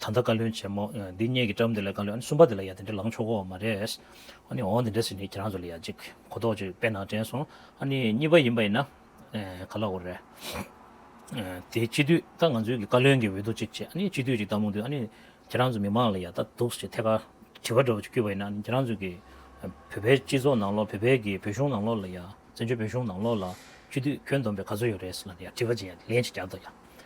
ད་ལྟ་བཀའ་བློན་ཆེན་མོ་འདི་སྙེད་ཀྱི་བཀྲབས་འདི་ལ་བཀའ་བློན་གསུམ་པ་འདི་ལ་ཡ་དེ་འདྲ་ལངས་ཆོག་གོ་མ་རེད། ཨ་ནི་འོང་འདི་འདྲ་ཟེར་ནས་ཁྱེད་རང་ཚོ་ལ་ཡ་ཅིག་གོ་རྟོགས་ཅིག་དཔེ་ནང་དྲན་སོང་ཨ་ནི་གཉིས་པ་ཡིན་པ་ཡིན་ན་ག་ལ་འོ་རེད། དེ་སྤྱི་འཐུས་ད་ང་ཚོའི་བཀའ་བློན་གྱི་འོས་བསྡུ་ཅིག་བྱེད་ཨ་ནི་སྤྱི་འཐུས་ཅིག་བཏང་མོ་འདུག་ཨ་ནི་ཁྱེད་རང་ཚོ་མི་མང་ལ་ཡ་ད་འདུག་ཅེས་ཐད་ཀར་དྲི་བ་འདྲ་བོ་ཅིག་བསྐྱུར་བ་ཡིན་ན་ཨ་ནི་ཁྱེད་རང་ཚོ་གི་བོད་པའི་སྤྱི་ཚོགས་ནང་ལོགས་བོད་པའི་གི་བོད་གཞུང་ནང་ལོགས་ལ་ཡ་བཙན་བྱོལ་བོད་གཞུང་ནང་ལོགས་ལ་སྤྱི་འཐུས་ཁྱོད་འདོམས་པའི་ག་ཚོད་ཡོད་རེད་ཟེར་ན་ཡ་དྲི་བ་ཅིག་ཡ་ལན་ཅིག་རྒྱག་དང་ཡ་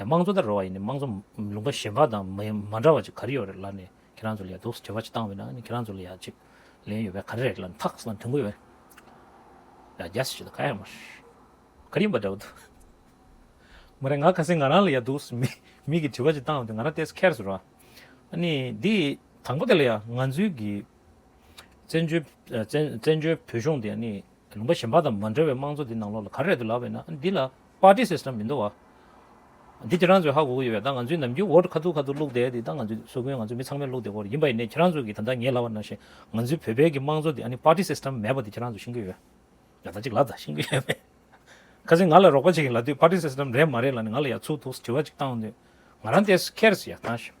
དམངས་གཙོ་ལྟར་རོལ་བ་ཡིན་ནི་དམངས་གཙོ་ལུང་པ་གཞན་པ་དང་མ་འདྲ་བ་ཅིག་ག་རེ་ཡོད་རེད་ལར་ནས་ཁྱེད་རང་ཚོ་ལ་ཡ་དུག་བྱེད་པ་ཅིག་བཏང་བས་ན་ཁྱེད་རང་ཚོ་ལ་ཡ་ཅིག་ལན་ཡོད་པས་ག་རེ་རེད་ལར་ནས་ཐག་ཟིན་ན་དོན་གོ་ཡོད་རེད། ཡ་རྒྱ་སེ་བྱེད་ད་ག་ཡང་མ་ཤེས་ག་རེ་ཡིན་པ་འདྲ་བོ་འདུག། མ་རེད་ང་ག་སེ་ང་རང་ལ་ཡ་དུག་མིག་གིས་བྲི་བ་ཅིག་བཏང་བས་ཏེ་ང་རང་ལྟས་ས་ཁེར་སོ་ར། ནི་འདི་དང་པོ་དེ་ལ་ཡ་ང་ཚོའི་གི་བཙན་བྱོལ་བོད་གཞུང་དེ་ནི་ལུང་པ་གཞན་པ་དང་མ་འདྲ་བའི་དམངས་གཙོ་དེ་ནང་ལོགས་ལ་ག་རེ་རེད་འདུག་ལབ་བས་ན་འདི་ལ། Party System མི་འདུག་བ། འདི་ཁྱེད་རང་ཚོས་ཧ་གོ་གི་ཡོད་པས་ད་ང་ཚོའི་ནམ་རྒྱུན Vote ཁ་ཐུག་ཁ་ཐུག་བླུགས་བསྡད་དེ་ད་ང་ཚོའི་ཟུར་དགོན་ང་ཚོ་མི་ཚང་མས་བླུགས་བསྡད་བོར་ཡིན་པ་ཡིན་ནའི་ཁྱེད་རང་ཚོས་ཀྱིས་ད་ལྟ་ངས་ལབ་པ་ནང་བཞིན་ང་ཚོའི་བོད་པའི་གི་དམངས་གཙོ་དེ་ཨ་ནི Party System མེད་པ་དེ་ཁྱེད་རང་ཚོས་ཤེས་ཀྱི་ཡོད། ཡག་ད་ཅིག་ལབ་ད་ཤེས་ཀྱི་ཡོད་མེད། ཁ་སིང་ང་ལ་རོགས་པ་བྱེད་ཀྱི་ལབ་དུས Party System རེད་མ་རེད་ལ་ནི་ང་ལ་ཡག་ཚུགས་འདུག་དྲི་བ་ཅིག་བཏང་འོང་དུས་ང་རང་དེས་ཁེར་སི་ཡག་ཐང་ཞིག།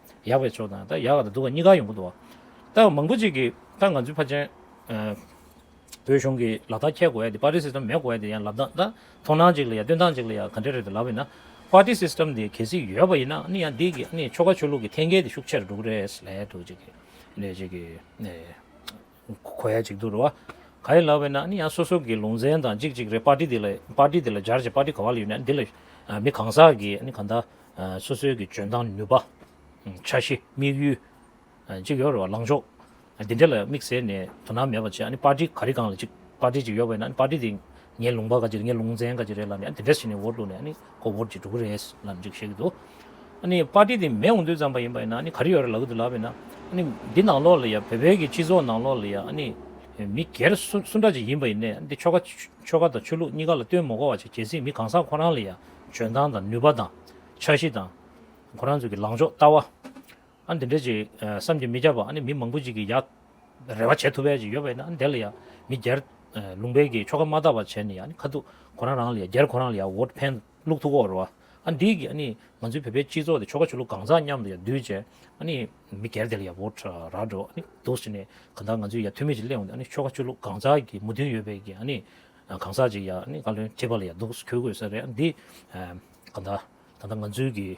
ཡག་པའི་ཕྱོགས་དང་ད་ཡག་ག་དང་སྡུག་ག་གཉིས་ཀ་ཡོང་གི་འདུག་ད་མང་པོ་ཅིག་གིས་ད་ང་ཚོའི་ཕ་ཆེན་བོད་གཞུང་གིས་ལག་རྟགས་འཁྱེར་དགོས་ཡ་དེ་པརྟི་སིསྟེམ་མེད་དགོས་ཡ་དེ་ཡང་ལབ་ད་ད་མཐོང་སྣང་ཅིག་ལ་ཡ་སྟོན་སྟངས་ཅིག་ལ་ཡ་ག་འདྲ་རེད་དུ་ལབ་ཡིན་ན་པརྟི་སིསྟེམ་དེ་གལ་སྲིད་ཡོད་པ་ཡིན་ན་ནི་ཡང་འདི་གི་ནི་ཆོལ་ཁ་ཆོས་ལུགས་ཀྱི་ཐེན་སྐལ་དེ་ཤུགས་ཆེར་འགྲོ་གི་རེད་ལས་དུ་ཅིག་གི་ནས་ཅིག་གི་ནས། གོ་ཡ་ཅིག་འདུག་རོ། ག་རེ་ལབ་པས་ན་ནི་ཡང་སོ་སོ་གི་ལུང་ཚན་དང་ཅིག་ཅིག་རེ་པར་ཏི་དེ་ལ་པར་ཏི་དེ་ལ་སྦྱར་ཅིག་པར་ཏི་ག་བ་ལ་ཡོད་ན་དེ་ལ་མི་གང་ཟག་གིས་ནི་གང་དག་སོ་སོའི་གི་འཇོན་ཐང་ནུས་པ། འཆར་གཞི་དམིགས་ཡུལ། ཅིག་ཡོད་རེ་བ་ལངས་ཕྱོགས། འདི་འདྲ་ལ་དམིགས་བསལ་ནས་དོ་སྣང་མེད་པར་བྱས་ནི་པར་ཏི་ག་རེ་གང་ལ་ཅིག་པར་ཏི་ཅིག་ཡོད་པས་ན་པར་ཏི་དེ་ངའི་ལུང་པ་ག་ཅིག་རེད་ངའི་ལུང་ཚན་ག་ཅིག་རེད་ལབ་ནས་དེ་འདྲ་བྱས་ནས་འོར་འདུག་ནས་ཁོ་འོར་གྱི་འགྲོ་གི་རེད་ལབ་འཇུག་བཤད་ཀྱི་འདུག་ཨ་པར་ཏི་དེ་མེད་འོང་དུས་ཙམ་པ་ཡིན་པ་ཡིན་ན་ག་རེ་ཡོད་རེད་ལབ་ཀྱི་འདུག་ལབ་པས་ན་འདི་ནང་ལོགས་ལ་ཡ་བོད་པའི་སྤྱི་ཚོགས་ནང་ལོགས་ལ་ཡ་མི་སྒེར་སུ་འདྲ་ཅིག་ཡིན་པ་ཡིན་ནས་འདི་ཆོལ་ཁ་དང་ཆོས་ལུགས་གཉིས་ཀ་ལ་ལྟོས་མི་གོ་བ་ཅིག་བྱེད་སྲིད་མི་གང་ཟག་ཁོ་རང་ལ་ཡ་འཇོན་ཐང་དང་ནུས་པ་དང་འཆར་གཞི་དང་ཁོ་རང་ཚོ་གི་ལངས་ཕྱོགས་ལྟ་བ། ཨ་འདི་འདྲའི་ཅིག་བསམ་གྱིས་མི་ཁྱབ་པ་ཨ་ནི་མི་མང་པོ་ཅིག་གིས་ཡག་རེ་བ་བྱེད་ཐུབ་པའི་ཅིག་ཡོད་པ་ཡིན་ན་ཨ་དེ་ལ་ཡང་མི་སྒེར་ལུང་པའི་གིས་ཆོ་ག་མ་དག་པ་བྱས་ནས་ཡང་ཁ་ཐུག་གོ་རང་རང་ལ་ཡང་སྒེར་གོ་རང་ལ་ཡང་འོད་ཕན་བླུག་ཐུག་གོ་རེ་བ་ཨ་འདིའི་གིས་ཨ་ནི་ང་ཚོའི་བོད་པའི་སྤྱི་ཚོགས་དེ་ཆོ་ག་ཆོ་ལུགས་གང་ཟག་མཉམ་དུ་ཡང་འདུས་བྱས་ཨ་ནི་མི་སྒེར་དེ་ལ་ཡང་འོད་རག་འགྲོ་ཨ་ནི་འདུག་ཟེར་ནས་གང་ལྟར་ང་ཚོས་ཡང་ཐུ་མེད་ཅིག་གླེང་བ་འདི་ཨ་ནི་ཆོ་ག་ཆོ་ལུགས་གང་ཟག་གིས་མོ་མཐུན་ཡོད་པའི་གིས་ཨ་ནི་གང་ཟག་ཅིག་ཡང་ཨ་ནི་བཀའ་བློན་ཁྲི་པ་ལ་ཡང་འདུག་ཁྱོད་གོ་ས་རེད་ཨ་འདི་གང་ལྟར་ད་ལྟ་ང་ཚོའི་གིས།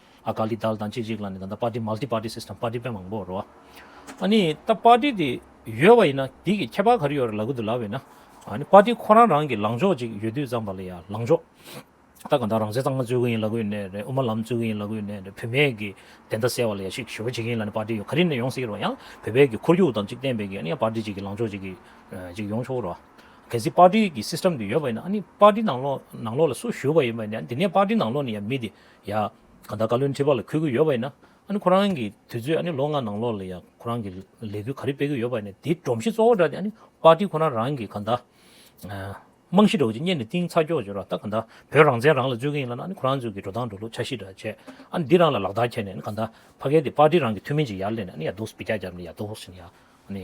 ཨ་ཀ་ལི་དལ་དང་གཅིག་གཅིག་ལ་ནི་ད་ལྟ Party Multi Party System Party དཔེ་མང་པོ་རོ། ཨ་ནི་ད Party དེ་ཡོད་བ་ཡིན་ན་དེ་གི་ཁྱད་པར་ག་རེ་ཡོད་རེ་ལ་གུ་དུ་ལ་བས་ན། ཨ་ནི Party ཁོ་རང་རང་གི་ལངས་ཕྱོགས་གཅིག་ཡོད་དུས་ཙམ་པ་ལ་ཡ་ལངས་ཕྱོགས། ད་གང་ལྟར་རང་བཙན་གཙང་མ་རྩོད་གི་ཡིན་ལ་གུ་ཡིན་ནའི་རེད་དབུ་མ་ལམ་རྩོད་གི་ཡིན་ལ་གུ་ཡིན་ནའི་རེད་བུད་མེད་གི་བདེན་མཐའ་གསལ་བ་ལ་ཡ་ཤིག་ཞུ་བ་བྱེད་གི་ཡིན་ལ་ནི Party ཡོད་ག་རེ་ནས་ཡོང་སྲིད་རོ་ཡང་བོད་པའི་གི་ཁོར་ཡུག་དང་གཅིག་བརྟེན་པའི་གི་ཨ་ནི་ཡང Party གཅིག་གི་ལངས་ཕྱོགས་གཅིག་གི་གཅིག་ཡོང་ཆོག་རོ། གལ་སྲིད Party གི System དེ་ཡོད་པ་ཡིན་ན་ཨ་ནི Party ནང་ལོགས་ནང་ལོགས་ལ་སུ་ཞུ་བ་ཡིན་པ་ཡིན་ན་ཡང་དེ་ནས Party ནང་ལོགས་ནས་ཡ་མི་དེ་ཡང། གང་ལྟར་བཀའ་བློན་ཁྲི་པ་ལ་འཁོད་གི་ཡོད་པ་ཡིན་ན། ཨ་ནི་ཁོ་རང་གི་དུས་ཚོད་ཨ་ནི་ལོ་ལྔ་ནང་ལོགས་ལ་ཡང་ཁོ་རང་གི་ལས་འགུལ་ག་རེ་སྤེལ་གི་ཡོད་པ་ཡིན་ན་དེའི་སྒྲོམ་གཞི་གཙོ་བོ་འདྲ་དེ་ཨ་ནི་པར་ཏི་ཁོ་རང་རང་གི་གང་ལྟར། རྨང་གཞི་འདྲ་བོ་ཅིག་གཉེར་ནས་གཏིང་ཚགས་འཁྱོག་འཁྱོག་ར་ལྟ་གང་ལྟར་བོད་རང་བཙན་རང་ལ་རྩོད་གི་ཡིན་ལ་ན་ཨ་ནི་ཁོ་རང་ཚོའི་གི་འགྲོ་སྟངས་འགྲོ་ལུགས་འཆར་གཞི་འདྲ་བྱས་ཨ་ནི་འདི་རང་ལ་ལག་བསྟར་བྱས་ནས་ཨ་ནི་གང་ལྟར་ཕ་སྐད་དེ་པར་ཏི་རང་གི་ཐུན་མིན་གྱི་ཡར་སླེབས་ནས་ཨ་ནི་ཡར་རྡོག་སྤི་རྒྱག་རྒྱབ་ནས་ཡར་རྡོག་བཞིན་ཡར་ཨ་ནི།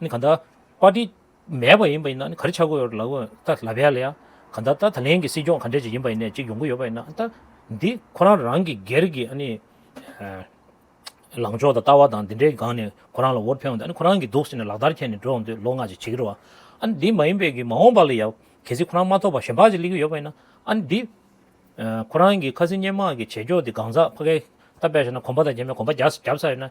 ནི་ག་ད་པར་ཏི་མེད་པ་ཡིན་པ་ཡིན་ན་ནི་ག་རེ་བྱ་དགོས་ཡོད་ལབ་དགོས་ད་ལབ་ཡ་ལ་ཡ་ག་ད་ད་ད་ལན་གྱི་སྲིད་སྐྱོང་ག་འདྲ་ཅིག་ཡིན་པ་ཡིན་ནས་ཅིག་ཡོང་གི་ཡོད་པ་ཡིན་ན་ད་འདི་ཁོ་རང་རང་གི་སྒེར་གྱི་ཨ་ནི་ལངས་ཕྱོགས་དང་ལྟ་བ་དང་འདི་འདྲའི་སྒང་ནས་ཁོ་རང་ལ་འོར་འཕེན་འོང་དུས་ཨ་ནི་ཁོ་རང་གི་འདུག་ཟེར་ནས་ལག་བསྟར་འཁྱེར་ནས་འགྲོ་འོང་དུས་ལོ་ལྔ་ཅིག་བྱེད་ཀྱི་རུ་བ་ཨ་ནི་འདི་མ་ཡིན་པའི་གི་མ་འོངས་པ་ལ་ཡ་གལ་སྲིད་ཁོ་རང་མ་ཐོབ་པ་གཞན་པ་ཅིག་སླེབས་ཀྱི་ཡོད་པ་ཡིན་ན་ཨ་ནི་འདི་ཁོ་རང་གི་ཁ་སི་སྙན་དམག་གི་བྱེད་ཕྱོགས་འདི་གང་ཟག་ཕ་གས་ད་དཔེ་བྱས་ན་གོམ་པ་དང་རྒྱན་པའི་གོམ་པ་རྒྱབ་ས་ཡོད་ན།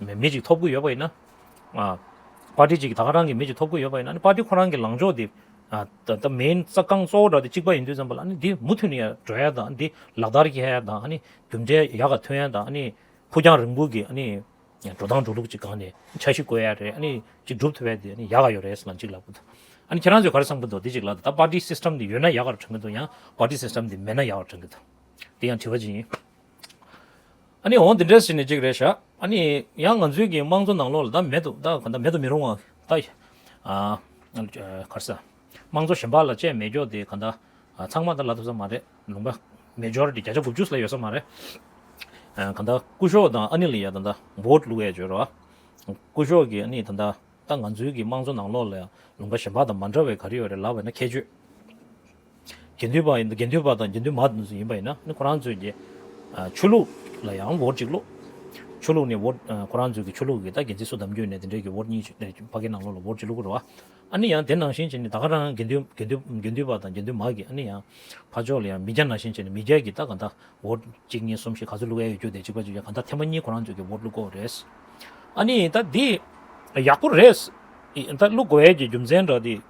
མི་གཅིག་ཐོབ་དགོས་ཡོད་པ་ཡིན་ན། པ་ཏི་གཅིག་ད་ག་རང་གི་མི་གཅིག་ཐོབ་དགོས་ཡོད་པ་ཡིན་ན་པ་ཏི་ཁོ་རང་གི་ལངས་ཕྱོགས་དེ། ད་མེན་རྩ་རྐང་གཙོ་བོ་འདྲ་དེ་གཅིག་པ་ཡིན་དུས་ཙམ་པ་ལ་ནི་དེ་མུ་མཐུད་ནས་འགྲོ་ཡ་དང་དེ་ལག་བསྟར་རྒྱག་ཡ་དང་རྒྱུ་འབྲས་ཡག་ག་ཐོན་ཡ་དང་ཕུགས་རྒྱང་རིང་པོ་གི་འགྲོ་སྟངས་འགྲོ་ལུགས་ཅིག་གང་ནས་འཆར་གཞི་བཀོད་ཡ་རེད་གཅིག་སྒྲུབ་ཐུབ་ཡ་དེ་ཡག་ག་ཡོད་རེད་ཟེར་ན་གཅིག་ལབ་གི་འདུག་ཁྱེད་རང་ཚོས་ག་རེ་བསམ་གི་འདུག་དེ་གཅིག་ལབ་ད་པ་ཏི་སིསྟེམ་དེ་ཡོད་ན་ཡག་ག་རེ་བྱུང་གི་འདུག་ཡང་པ་ཏི་སིསྟེམ་དེ་མེད་ན་ཡག་ག་རེ་བྱུང་གི་འདུག་དེ་ཡང་དྲི་བ་གཅིག་ཡིན། ཨ་ནི་འོང་འདི་འདྲས་ཟེར་ནས་གཅིག་རེ་བཞག་ཨ་ནི་ཡང་ང་ཚོའི་གི་དམངས་གཙོ་ནང་ལོགས་ལ་ད་མེད་དུ་ད་ག་ད་མེད་དུ་མི་རུང་བ་ད་ཨ་གར་ས་དམངས་གཙོ་ཞེན་པགས་ལ་བཅས་མེད་འགྱོགས་དེ་ག་ད་ཚང་མ་ད་ལ་ཐུབ་ས་མ་རེད་ལུང་པ་མེ་འཇོར་དེ་བརྒྱ་ཆ་དགུ་བཅུ་ལ་ཡོད་ས་མ་རེད་ཨ་ག་ད་སྐུ་ཞོགས་དང་ཨ་ནི་ལ་ཡ་ད་ད་བོད་ལུགས་ཡ་འཇོར་ཨ་སྐུ་ཞོགས་གི་ཨ་ནི་ད་ད་ད་ང་ཚོའི་གི་དམངས་གཙོ་ནང་ལོགས་ལ་ཡང་ལུང་པ་ཞེན་པགས་དང་མ་འདྲ་བའི་ག་རེ་ཡོད་རེད་ལབ་བས་ན་ཁྱད་ཆོས། དགེ་འདུན་པ་ཡིན་དགེ་འདུན་པ་དང་དགེ་འདུན་མ་དེ་ཚོ་ཡིན་པ་ཡིན་ན་ཁོ་རང་ཚོས་ཀྱི་ཆོས་ལུགས་ལ་ཡང་བོར་ཅིག་ལོ། ཆོས་ལུགས་ནས་བོར་ཁོ་རང་ཚོས་ཀྱི་ཆོས་ལུགས་ཀྱི་ད་དགེ་ཚིགས་སུ་བདམས་རྒྱུ་ནས་དེ་འདྲའི་ཀྱི་བོར་གཉིས་ཕ་གི་ནང་ལོགས་ལ་བོར་ཅིག་ལུགས་རོ། ཨ་ནི་ཡང་དེ་ནང་བཞིན་བྱས་ནས་ད་ག་རང་དགེ་འདུན་དགེ་འདུན་དགེ་འདུན་པ་དང་དགེ་འདུན་མ་གི་ཨ་ནི་ཡང་ཕ་ཕྱོགས་ལ་ཡང་མི་རྒྱ་ནང་བཞིན་བྱས་ནས་མི་རྒྱ་ཀྱི་ད་ག་ད་བོར་གཅིག་གཉིས་གསུམ་བཞི་ག་ཚོད་ལུགས་ཨེ་ཡོད་རྒྱུ་དེ་གཅིག་པ་གཅིག་ག་ད་ཐེངས་པ་གཉིས་ཁོ་རང་ཚོས་ཀྱི་བོར་ལུགས་དགོས་རེད། ཨ་ནི་ད་དེ་ཡག་པོ་རེད། ད་ལུགས་དགོས་ཡས་ཀྱི་རྒྱུ་མཚན་འདྲ་དེ།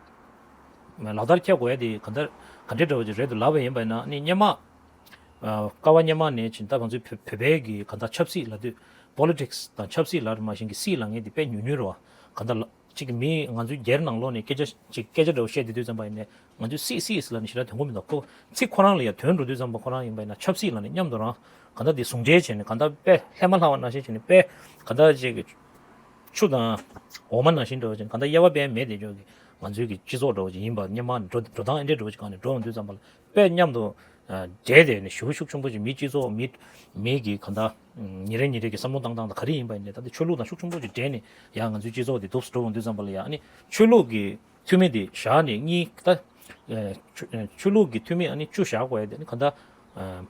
ལག་བསྟར་ཁྱད་དགོས་དེ་ག་འདྲ་ག་འདྲའི་བྲོ་བ་རེད་དུ་ལབ་པ་ཡིན་པས་ན་ནི་སྙན་མ། ཀ་བ་སྙན་མ་ནས་བྱིན་ད་གང་ཚུལ་བོད་བོད་པའི་གི་ག་འདྲ་ཆབ་སྲིད་ལ་དུས Politics དང་ཆབ་སྲིད་ལར་མ་བཞིན་གི་སྲིད་ལ་ངས་དེ་དཔེ་ཉུལ་ཉུལ་རུ་བ་ག་འདྲ་ཅིག་གི་མི་ང་ཚོའི་རྒྱལ་ནང་ལོག་ནས་སྐད་ཆ་ཅིག་སྐད་ཆ་འདྲ་བོ་བཤད་དུས་དུས་ཙམ་པ་ཡིན་ནས་ང་ཚོའི་སྲིད་སྲིད་ལ་ནི་ཞེ་དྲག་དོན་གོ་མི་འདུག་ཁོ་ཚིག་ཁོ་རང་ལ་ཡང་དོན་འགྲོ་དུས་ཙམ་པ་ཁོ་རང་ཡིན་པས་ན་ཆབ་སྲིད་ལ་ནི་མཉམ་དུ་རང་ག་འདྲ་དེ་ཟུང་འབྲེལ་བྱས་ནས་ག་འདྲ་དཔེ་ལྷད་མ་ལྷག་བ་ན་བཞིན་བྱས་ནས་དཔེ་ག་འདྲ་ཅིག་གི་ཆུ་དང་འོ་མ་ན་བཞིན་བྲོ་བ་བྱས་ནས་ག་འདྲ་དབྱེ་བ་དཔེ་མེད་དེ་ཅོག་གི་ང་ཚོའི་གི་སྤྱི་ཚོགས་འགྲོ་བ་ཅིག་ཡིན་པ་སྙམ་མ་འགྲོ་འགྲོ་སྟངས་ཨེ་འདྲས་འགྲོ་བ་ཅིག་གང་ནས་འགྲོ་འོང་དུས་ཙམ་པ་ལ་དཔེ་མཉམ་དུ་སྦྲེལ་ཏེ་ནི་ཞུགས་ཤུགས་ཆུང་པོ་ཅིག་མིའི་སྤྱི་ཚོགས་མི་མིའི་གི་གང་དང་ཉིན་རེ་ཉིན་རེ་གི་བསམ་བློ་བཏང་སྟངས་དང་ག་རེ་ཡིན་པ་ཡིན་ནས་ད་ལྟ་ཆོས་ལུགས་དང་ཤུགས་ཆུང་པོ་ཅིག་སྦྲེལ་ནི་ཡང་ང་ཚོའི་སྤྱི་ཚོགས་འདི་དུབ་སུ་འགྲོ་འོང་དུས་ཙམ་པ་ལ་ཡང་ནི་ཆོས་ལུགས་གི་འཐུས་མི་འདི་བཞག་ནི་གཉིས་ད་ཆོས་ལུགས་གི་འཐུས་མི་ཨ་ནི་བཅུ་བཞག་པ་ཡིན་ནི་གང་ད་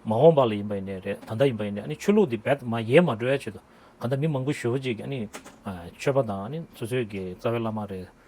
མ་འོངས་པ་ལ་ཡིན་པ་ཡིན་ནས་རེད་ད་ལྟ་ཡིན་པ་ཡིན་ནས་ཨ་ནི་ཆོས་ལུགས་འདི་འབད་མ་ཡས་མ་འགྲོ་ཡ་ཆེད་དུ་གང་ད་མི་མང་པོ་ཞུགས་ཅིག་ཨ་ནི་ཆོས་པ་དང་ཨ་ནི་སོ་སོའི་གི་རྩ་བའི་བླ་མ་རེད།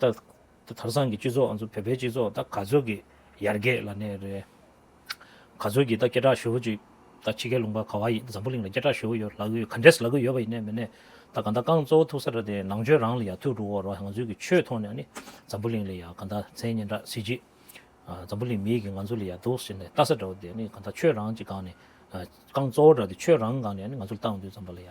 ད་ཐར་ཟང་གི་སྤྱི་ཚོགས་ང་ཚོ་བོད་པའི་སྤྱི་ཚོགས་ད་ག་ཚོད་ཀྱི་ཡར་རྒྱས་ལ་གནས་རེད། ག་ཚོད་ཀྱི་ད་སྐད་གྲགས་ཞུ་བོ་ཅིག་ད་ཕྱི་རྒྱལ་ལུང་པ་ག་བ་ཡི་འཛམ་བུ་གླིང་ལ་སྐད་གྲགས་ཞུ་བོ་ཡོད་ལ་གུ་ཡོད་ག་འདྲས་ལ་གུ་ཡོད་པ་ཡིན་ནས་མིན་ནས་ད་ག་ད་རྐང་གཙོ་བོ་ཐུག་ས་ར་དེ་ནང་ཆོས་རང་ལ་ཡ་ཐུག་འགྲོ་བོ་ར་ང་ཚོའི་གི་ཆོས་ཐོག་ནས་ཨ་ནི་འཛམ་བུ་གླིང་ལ་ཡ་ག་ད་མཚན་སྙན་གྲགས་སྲིད་ཅིག་འཛམ་བུ་གླིང་མི་ཡི་གི་ང་ཚོ་ལ་ཡ་འདུག་ཟེར་ནས་ལྟ་ས་འདྲ་བོ་དེ་ཨ་ནི་ག་ད་ཆོས་རང་ཅིག་སྒང་ནས་རྐང་གཙོ་བོ་འདྲ་དེ་ཆོས་རང་གང་ནས་ཨ་ནི་ང་ཚོ་ལ་ལྟ་འོང་དུས་འཛམ་བུ་ལ་ཡ།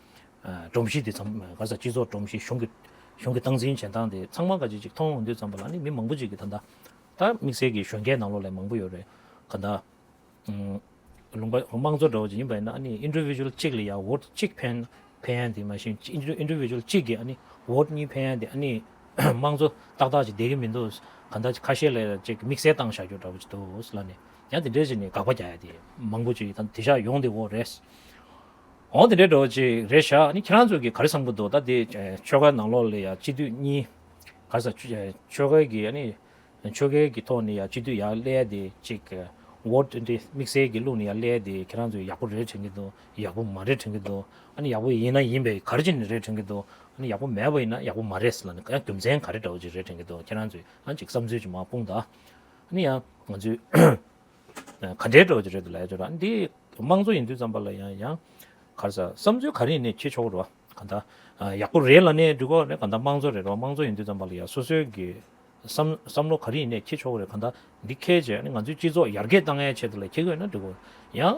སྒྲོམ་གཞི་དེ་ཚང་ག་ས་སྤྱི་ཚོགས་སྒྲོམ་གཞི་གཞུང་གི་གཞུང་གི་སྟངས་འཛིན་བྱེད་སྟངས་དེ་ཚང་མ་ག་ཅིག་ཅིག་མཐོང་འོང་དུས་ཙམ་པ་ལ་ནི་མི་མང་པོ་ཅིག་གི་ད་ལྟ་ད་དམིགས་བསལ་གྱི་གཞོན་སྐྱེས་ནང་ལོགས་ལས་མང་པོ་ཡོད་རེད་ག་ད། ལུང་པ་དམངས་གཙོ་འདྲ་བོ་ཅིག་ཡིན་པས་ན་ཨ་ནི Individual གཅིག་ལ་ཡང Vote གཅིག་ཕན་ཕན་ཡན་དེ་མ་བཞིན Individual གཅིག་གིས་ཨ་ནི Vote གཉིས་ཕན་ཡན་དེ་ཨ་ནི་དམངས་གཙོ་ཏག་ཏག་ཅིག་བསྡད་ཀྱི་མི་འདུག་ག་ད་ཁ་ཤས་ལས་ཅིག་གིས་དམིགས་བསལ་སྟངས་བཞག་རྒྱུ་འདྲ་བོ་ཅིག་འདུག་ལ་ནི་ཡང་དེ་འདྲས་ཅིག་ནི་དགག་པ་རྒྱག་ཡ་དེ་མང་པོ་ཅིག་ད་དེ་བཞག་ཡོང་དེ་འོ་རེད། འོང་དེ་འདྲའི་འགྲོ་ཅིག་རེ་བཞག་ནི་ཁྱེད་རང་ཚོ་གིས་ག་རེ་བསམ་གི་འདུག་ད་དེ་ཆོལ་ཁ་ནང་ལོགས་ལས་ཡག་སྤྱི་འཐུས་གཉིས་ག་ས་ཆོལ་ཁ་གི་ནི་ཆོལ་ཁའི་གི་ཐོག་ནས་ཡག་སྤྱི་འཐུས་ཡག་སླེ་དེ་ཅིག་བོད་དེ་དམིགས་བསལ་གི་ལུགས་ནས་ཡག་སླེ་དེ་ཁྱེད་རང་ཚོ་ཡག་པོ་རེ་དྲན་གི་འདུག་ཡག་པོ་མ་རེ་དྲན་གི་འདུག་ཨ་ནི་ཡག་པོ་ཡིན་ན་ཡིན་པའི་ག་རེ་ཅི་ནི་རེ་དྲན་གི་འདུག་ཨ་ནི་ཡག་པོ་མེད་པ་ཡིན་ན་ཡག་པོ་མ་རེད་ལ་ནི་ཡང་རྒྱུ་མཚན་ག་རེ་འདྲ་བོ་ཅིག་རེ་དྲན་གི་འདུག་ཁྱེད་རང་ཚོས་ཨ་ཅིག་བསམ་ཚུལ་ཅིག་མ་སྤུངས་དང་ཨ་ནི་ཡང་ང་ཚོས་ག་འདྲའི་དྲོ་ཞིག་རེད་འདུག་ལ་ཡ་ཅོ་རང་འདི་དམངས་གཙོ་ཡིན་དུས་ཙམ་པ་ལ་ཡང་ཡང་ག་རེ་ཟ་བསམ་ཚུལ་ག་རེ་ཡིན་ནས་ཁྱེད་ཆོག་རོ་ག་འདྲ་ཡག་པོ་རེད་ལ་ནས་འགྲིག་གོ་རེད་ག་འདྲ་དམངས་གཙོ་རེད་རོ་དམངས་གཙོ་ཡིན་དུས་ཙམ་པ་ལ་ཡང་སོ་སོའི་གི་བསམ་བསམ་བློ་ག་རེ་ཡིན་ནས་ཁྱེད་ཆོག་རེད་ག་འདྲ་འདི་ཁས་ཆེ་ང་ཚོའི་སྤྱི་ཚོགས་ཡར་རྒྱས་གཏང་ཡའི་ཆེད་དུ་ལ་ཁྱེད་གོ་ཡོད་ན་འགྲིག་གོ་ཡང།